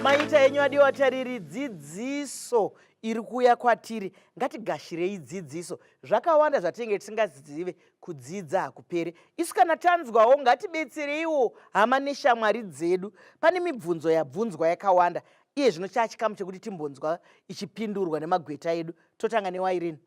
maita enyu adiwa atariri dzidziso iri kuuya kwatiri ngatigashirei dzidziso zvakawanda zvatinenge tisingazive kudzidza hakupere isu kana tanzwawo ngatibetsereiwo hama neshamwari dzedu pane mibvunzo yabvunzwa yakawanda iye zvino chaachikamu chekuti timbonzwa ichipindurwa nemagweta edu totanga newairini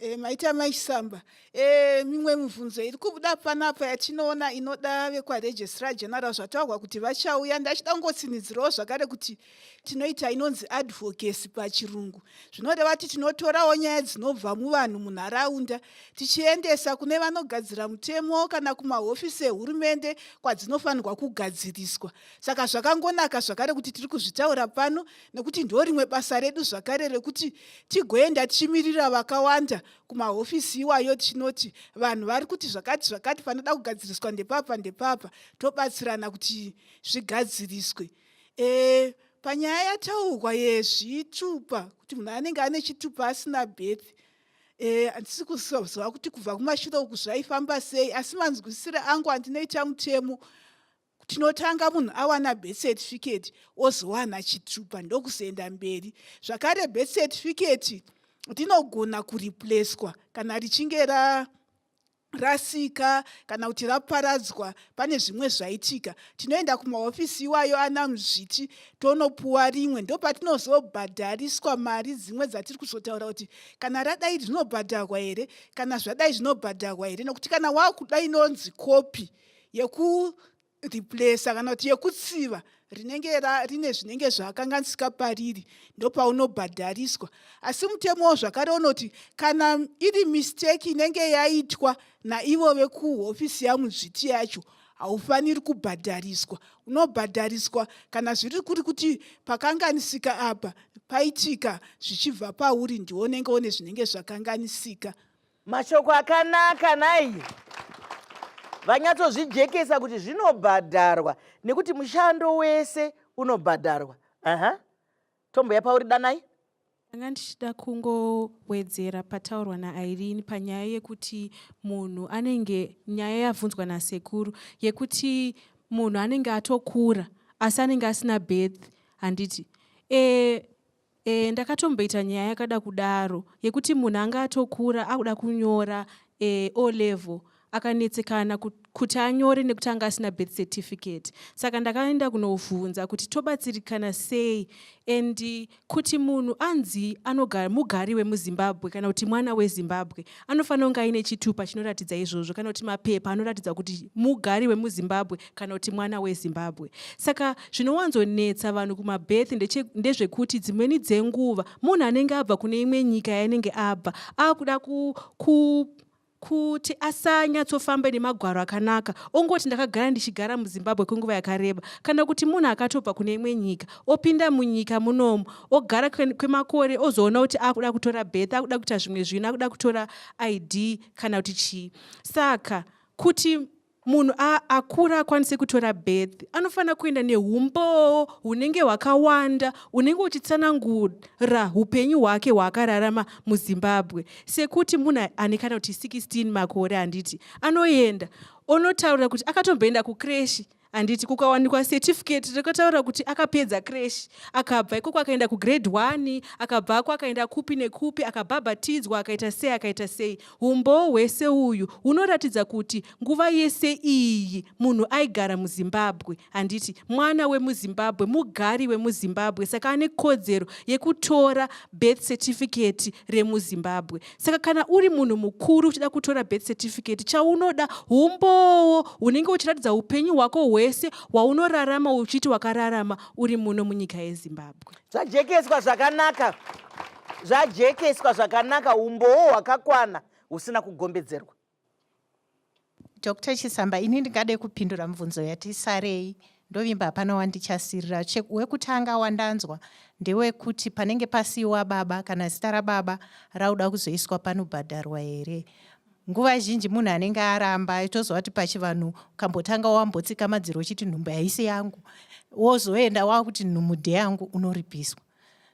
E, maita maisamba e, eh, mimwe mibvunzo iri kubuda panapa yatinoona inoda vekwaregistrar general zvataurwa kuti vachauya ndachida kungotsinidzirawo zvakare kuti tinoita inonzi advocacy pachirungu zvinoreva kuti tinotorawo nyaya dzinobva muvanhu munharaunda tichiendesa kune vanogadzira mutemo kana kumahofisi ehurumende kwadzinofanirwa kugadziriswa saka zvakangonaka zvakare kuti tiri kuzvitaura pano nekuti ndorimwe basa redu zvakare rekuti tigoenda tichimirira vakawanda kumahofisi iwayo tichinoti vanhu vari kuti zvakati zvakati panoda kugadziriswa ndepapa ndepapa tobatsirana kuti zvigadziriswe e, panyaya yataurwa yezvitupa kuti munhu anenge ane chitupa asina birth e, handisi e, kuzoziva kuti kubva kumashure uku zvaifamba sei asi manzwisire angu andinoita mutemo tinotanga munhu awana birth certificate ozowana chitupa ndokuzoenda mberi zvakare birth certificate rinogona kureplacwa kana richinge ra rasika kana kuti raparadzwa pane zvimwe zvaitika tinoenda kumahofisi iwayo ana muzviti tonopuwa rimwe ndopatinozobhadhariswa mari dzimwe dzatiri kuzotaura kuti kana radai rinobhadharwa here kana zvadai zvinobhadharwa here nokuti kana wakuda inonzi kopi yekureplacer kana kuti yekutsiva rinenge rine zvinenge zvakanganisika pariri ndopaunobhadhariswa asi mutemowo zvakare unoti kana iri misteki inenge yaitwa naivo vekuhofisi yamuzviti yacho haufaniri kubhadhariswa unobhadhariswa kana zviri kuri kuti pakanganisika apa paitika zvichibva pauri ndiwo unenge one zvinenge zvakanganisika Mashoko akanaka nai vanyatsozvijekesa kuti zvinobhadharwa nekuti mushando wese unobhadharwa. Aha. Tombo yapa uri danai. Ndanga ndichida kungowedzera pataurwa naIrene panyaya yekuti munhu anenge nyaya yavhunzwa nasekuru yekuti munhu anenge atokura asi anenge asina birth handiti e, Eeh ndakatomboita nyaya yakada kudaro yekuti munhu anga atokura akuda kunyora eeh O level akanetsekana kuti anyore nekuti anga asina birth certificate saka ndakaenda kunovhunza kuti tobatsirikana sei and kuti munhu anzi anogara mugari wemuzimbabwe kana kuti mwana wezimbabwe Anofanira kunge aine chitupa chinoratidza izvozvo kana kuti mapepa anoratidza kuti mugari wemuzimbabwe kana kuti mwana wezimbabwe saka zvinowanzonetsa vanhu kumabirth ndezvekuti dzimweni dzenguva munhu anenge abva kune imwe nyika yainenge abva akuda ku, ku kuti asanyatsofambe nemagwaro akanaka ongoti ndakagara ndichigara muzimbabwe kwenguva yakareba kana kuti munhu akatobva kune imwe nyika opinda munyika munomu ogara kwemakore kwe ozoona kuti akuda kutora birth akuda kuita zvimwe zvinhu akuda kutora id kana kuti chii saka kuti munhu akura akwanise kutora birth anofanira kuenda neumboo hunenge hwakawanda unenge uchitsanangura upenyu hwake hwaakararama muzimbabwe sekuti munhu ane kana kuti 16 makore handiti anoenda onotaura kuti akatomboenda kukreshi handiti kukawanikwa certificate rekataura kuti akapedza crash akabva ikoko akaenda kugrade one akabvako akaenda kupi nekupi akabhabhatidzwa akaita sei akaita sei umboo hwese uyu hunoratidza kuti nguva yese iyi munhu aigara muzimbabwe handiti mwana wemuzimbabwe mugari wemuzimbabwe saka ane kodzero yekutora birth certificate remuzimbabwe saka kana uri munhu mukuru uchida kutora birth certificate chaunoda umbowo unenge uchiratidza upenyu hwako hwese waunorarama uchiti wakararama uri muno munyika yezimbabwe zvajekeswa zvakanaka zvajekeswa zvakanaka umbowo hwakakwana husina kugombedzerwa Dr Chisamba, ini ndingade kupindura mubvunzo yati sarei ndovimba hapana wandichasirira wekutanga wandanzwa ndewekuti panenge pasiwa baba kana zita rababa rauda kuzoiswa panobhadharwa here nguva zhinji munhu anenge aramba itozova kuti pachivanhu ukambotanga wambotsika madziro uchiti nhumbu haisi yangu wozoenda wakuti nhumbu ndeyangu unoripiswa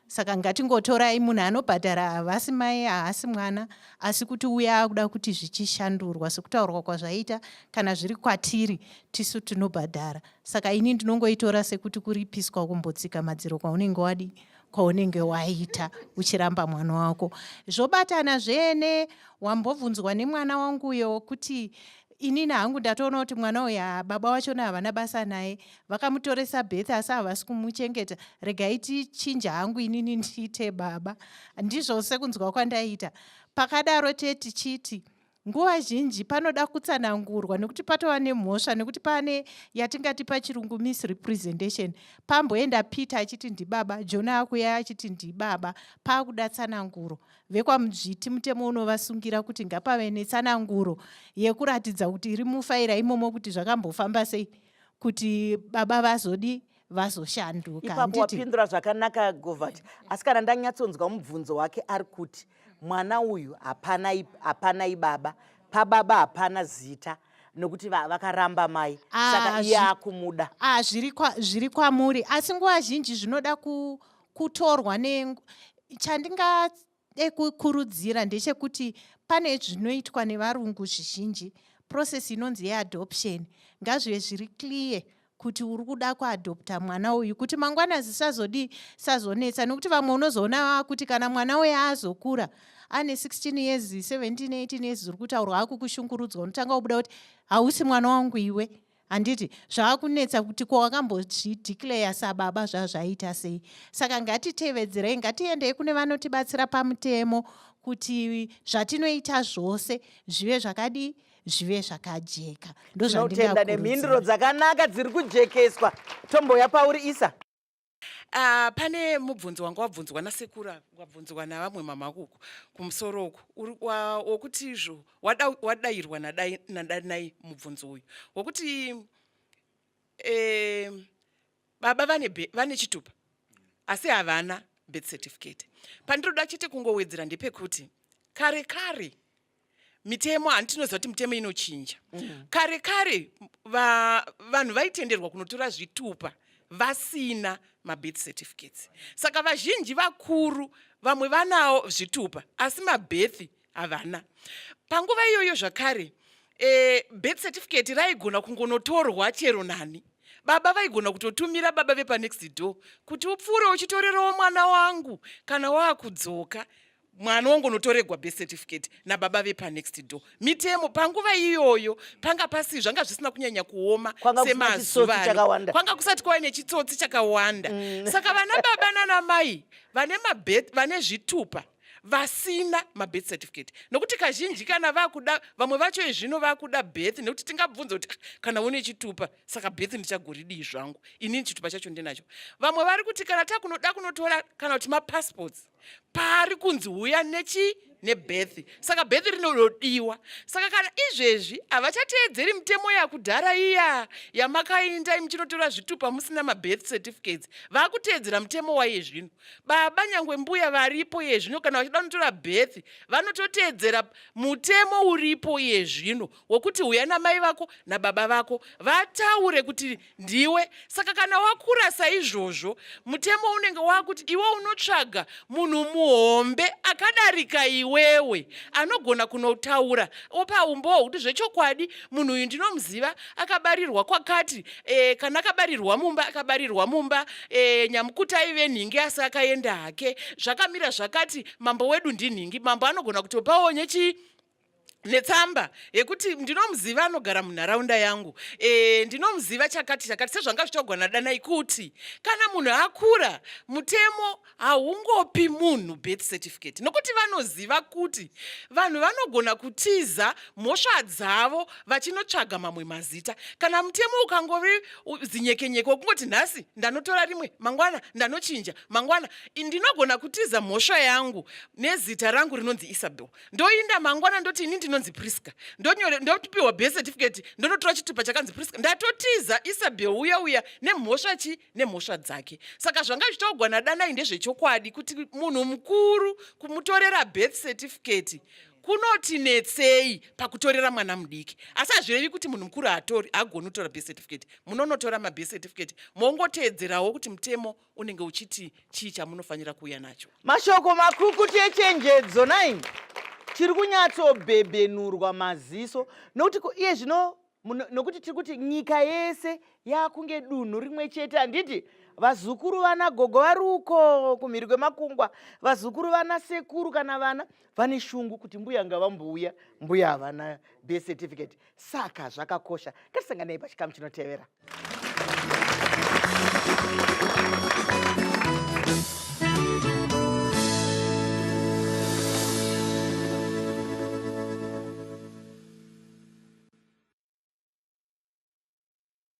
saka ngatingotorai munhu anobhadhara havasi mai haasi mwana asi kuti uya akuda kuti zvichishandurwa sekutaurwa kwazvaita kana zviri kwatiri tisu tinobhadhara saka ini ndinongoitora sekuti kuripiswa kumbotsika madziro kwaunenge wadi kwaunenge waita uchiramba mwana wako zvobatana zvene wambobvunzwa nemwana wanguyo kuti inini hangu ndatoona kuti mwana uyu ah, baba vachona havana basa naye vakamutoresa betha asi havasi kumuchengeta regai tichinje hangu inini ndiite baba ndizvo sekunzwa kwandaiita pakadaro te tichiti nguva zhinji panoda kutsanangurwa nekuti patova nemhosva nekuti pane yatingati pachirungu misrepresentation pamboenda peter achiti ndibaba jona akuya achiti ndibaba paakuda tsananguro vekwamudzviti mutemo unovasungira kuti ngapave netsananguro yekuratidza kuti iri mufaira imomo kuti zvakambofamba sei kuti baba vazodi vazoshanduka ipapo wapindura zvakanaka govert asi kana ndanyatsonzwa mubvunzo wake ari kuti mwana uyu hapana ibaba pababa hapana zita nokuti vakaramba mai ah, saka iye akumuda ah, zviri kwamuri asi nguva zhinji zvinoda ku kutorwa ne chandingade kukurudzira ndechekuti pane zvinoitwa nevarungu zvizhinji process inonzi yeadoption ngazvive zviri clear kuti uri kuda kuadopta mwana uyu kuti mangwana zisazodii sazonetsa nokuti vamwe unozoona vava kuti kana mwana uye azokura ane 16 years 17 18 years ziri kutaurwa akukushungurudzwa unotanga kubuda kuti hausi mwana wangu iwe handiti zvaakunetsa kuti ko wakambozvideclare sababa zvazvaita sei saka ngatitevedzerei ngatiendei kune vanotibatsira pamutemo kuti zvatinoita zvose zvive zvakadii zvive zvakajeka ndozvandinotenda nemhinduro dzakanaka dziri kujekeswa tomboya pauri isa Uh, pane mubvunzo wanga wabvunzwa nasekuru wabvunzwa navamwe mamakuku kumusoro uku wokuti izvo wadairwa nadanai mubvunzo uyu wokuti eh, baba vane, vane chitupa asi havana birth certificate pandinoda chete kungowedzera ndepekuti kare kare mitemo handi tinoziva kuti mitemo inochinja mm. kare kare va, vanhu vaitenderwa kunotora zvitupa vasina mabirth certificates saka vazhinji vakuru vamwe vanawo zvitupa asi mabirth havana panguva iyoyo zvakare e, birth certificate raigona kungonotorwa chero nani baba vaigona kutotumira baba vepanext door kuti upfuure uchitorerawo mwana wangu kana waakudzoka mwana wangonotoregwa birth certificate nababa vepanext door mitemo panguva iyoyo panga pasi zvanga zvisina kunyanya kuoma semazuvano kwanga kusati kwava nechitsotsi chakawanda mm. saka vana baba nana mai vane mabeth vane zvitupa vasina mabirth certificate nokuti kazhinji kana vakuda vamwe vacho izvino vakuda birth nekuti tingabvunza kuti ah, kana une chitupa saka birth ndichagoridii zvangu inini chitupa chacho ndinacho vamwe vari kuti kana takunoda kunotora kana kuti mapassports paari kunzi huya nechi nebirth saka birth rinododiwa saka kana izvezvi havachateedzeri mitemo yakudhara iya yamakainda muchinotora zvitupa musina mabirth certificates vakuteedzera mutemo waye zvino baba nyangwe mbuya varipo iye zvino kana vachida kunotora birth vanototeedzera mutemo uripo iye zvino wokuti huya namai vako nababa vako vataure kuti ndiwe saka kana wakura saizvozvo mutemo unenge wakuti iwe unotsvaga munhu muhombe akadarika iwewe anogona kunotaura opa umbo hwekuti zvechokwadi munhu uyu ndinomuziva akabarirwa kwakati e, kana akabarirwa mumba akabarirwa mumba e, nyamukuta aive nhingi asi akaenda hake zvakamira zvakati mambo wedu ndinhingi mambo anogona kutopawo nyechi netsamba yekuti ndinomuziva anogara munharaunda yangu e, ndinomuziva chakati chakati sezvanga zvichogona danai kuti kana munhu akura mutemo haungopi munhu birth certificate nokuti vanoziva kuti vanhu vanogona kutiza mhosva dzavo vachinotsvaga mamwe mazita kana mutemo ukangovi zinyekenyeke wekungoti nhasi ndanotora rimwe mangwana ndanochinja mangwana ndinogona kutiza mhosva yangu nezita rangu rinonzi isabel ndoinda mangwana ndoti ini ndinonzi prisca ndonyore ndopiwa birth certificate ndonotora chitupa chakanzi prisca ndatotiza isabel uya uya nemhosva chi nemhosva dzake saka zvanga zvichitaugwa nadanai ndezvechokwadi kuti munhu mukuru kumutorera birth certificate kunotinetsei pakutorera mwana mudiki asi hazvirevi kuti munhu mukuru haatori hagoni kutora birth certificate munonotora mabirth certificate mongoteedzerawo kuti mutemo unenge uchiti chii chamunofanira kuuya nacho mashoko makukutu echenjedzo nai tiri kunyatsobhebhenurwa maziso nokuti iye zvino nokuti tiri kuti nyika yese yakunge dunhu rimwe chete handiti vazukuru vana gogo vari uko kumhiri kwemakungwa vazukuru vana sekuru kana vana vane shungu kuti mbuya ngavambouya mbuya havana birth certificate saka zvakakosha ngatisanganei pachikamu chinotevera